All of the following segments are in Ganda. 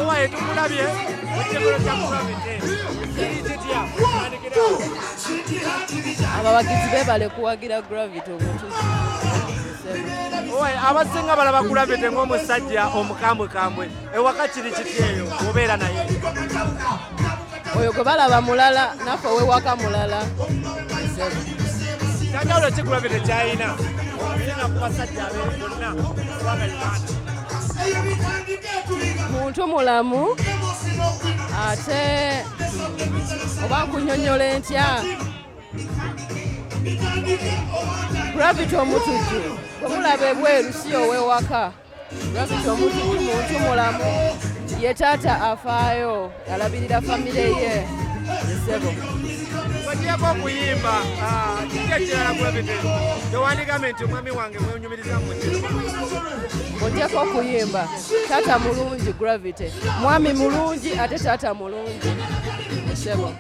owaye tukulabye ekigolo kya mukamete kiri kitya abawagizi bebale kuwagira gravity omuntu owaye abasinga balaba gravity ng'omusajja omukambwekambwe ewaka kiri kityeyo obeera naye oyo gwe balaba mulala naffe owewaka mulala kyanjawulo kikulabye tekyayina olina ku basajja bonna kubanga uganda muntu mulamu ate oba nkunyonyola entya gravity omutujju omulaba ebweru si owewaka Gravity omuntu muntu mulamu ye taata afaayo alabirira famire ye esebo ogyeko okuyimba ah, kiki ekirala gravity tewandigambe nti omwami wange mwenyumiriza mukiro ogyeko okuyimba taata mulungi gravity mwami mulungi ate taata mulungi esebo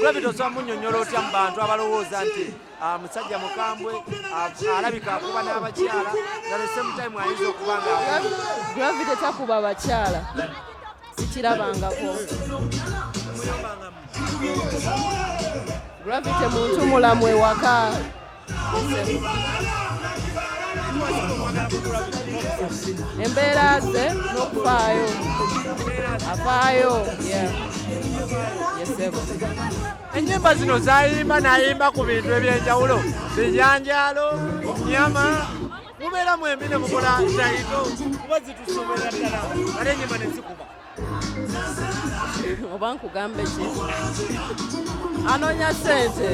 gravity osobola munyonyola otya mu bantu abalowooza nti ah, musajja mukambwe ah, alabika akuba n'abakyala naesemutime ayinza okuba nga gravity takuba bakyala sikirabangako gravity muntu mulamu ewaka embeera ze n'okufaayo afaayo yesebo ennyimba zino zayimba nayimba ku bintu ebyenjawulo bijanjaalo nyama mubeera mwembi ne mukola zaito kuba zitusobola ddala ate enyimba nezikuba oba nkugambe ki anoonya sente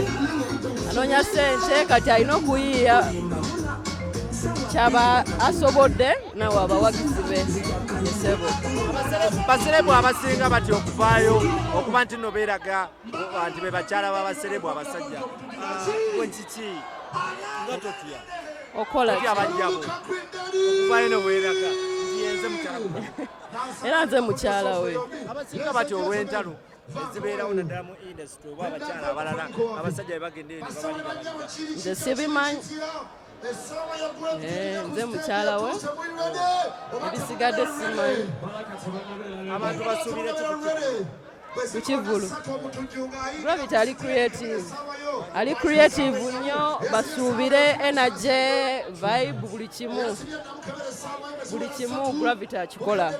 anoonya sente kati alina okuyiiya kyaba asobodde nawe abawagizi be esebo baserebu abasinga batya okuvaayo okuba nti no beeraga nti be bakyala babaserebu abasajja ah, kiki nga totya okola okuvaayo ne weeraga nti yenze mukyala era nze mukyala we abasinga bati olw'entalo ezibeerawo naddala mu indasitry oba abakyala abalala abasajja bebagenda eri nze sibimanyi eh, nze mukyala we ebisigadde simanyi abantu basuubira ku kivulu robert ali creative ali creative nnyo basuubire energy vibe buli kimu buli kimu gravity akikola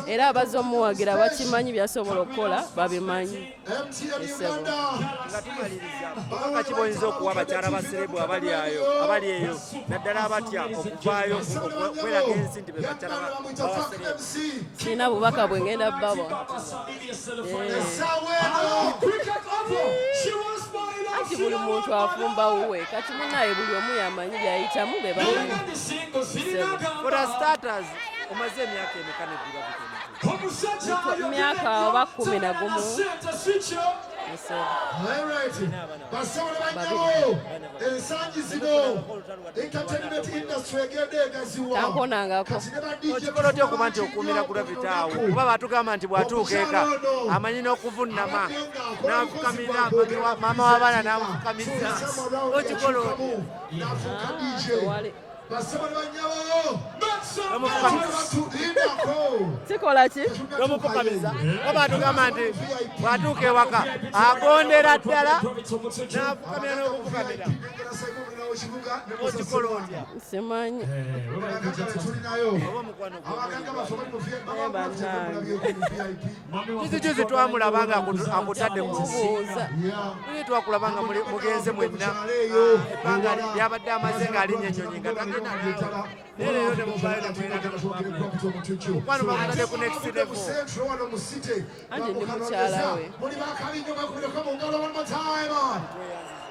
era abaza omuwagira bakimanyi byasobola okukola babimanyi kakibonyeza okuwa abakyala baserebu abali ayo abali eyo naddala abatya okuvaayo okweraga ensi nti bebakyala babaserebu kirina bubaka bwe ngenda bawa anti buli muntu afumba wuwe kati munaye buli omu yamanyi byayitamu be omaze emyaka emeka nebbibamyaka oba kumi na gumu ensangi zino okikola otya okuba nti okuumira gravita awo kuba batugamba nti bwatuuka eka amanyi n'okuvunnama nafukamira maama w'abaana namufukamisa okikola kikola ki tomufukamiza oba atugamba nti bwatuuka ewaka agondera ddala nafukamira n'okufukamira simanyi juzijuzi twamulaba nga akutadde mubuuza ii twakulaba nga mugenze mwenna ebbanga lyabadde amaze nga alinya enyonyi nga tagenda neleero nemubaemukwano bamutadde ku next level andi ndi mukyala we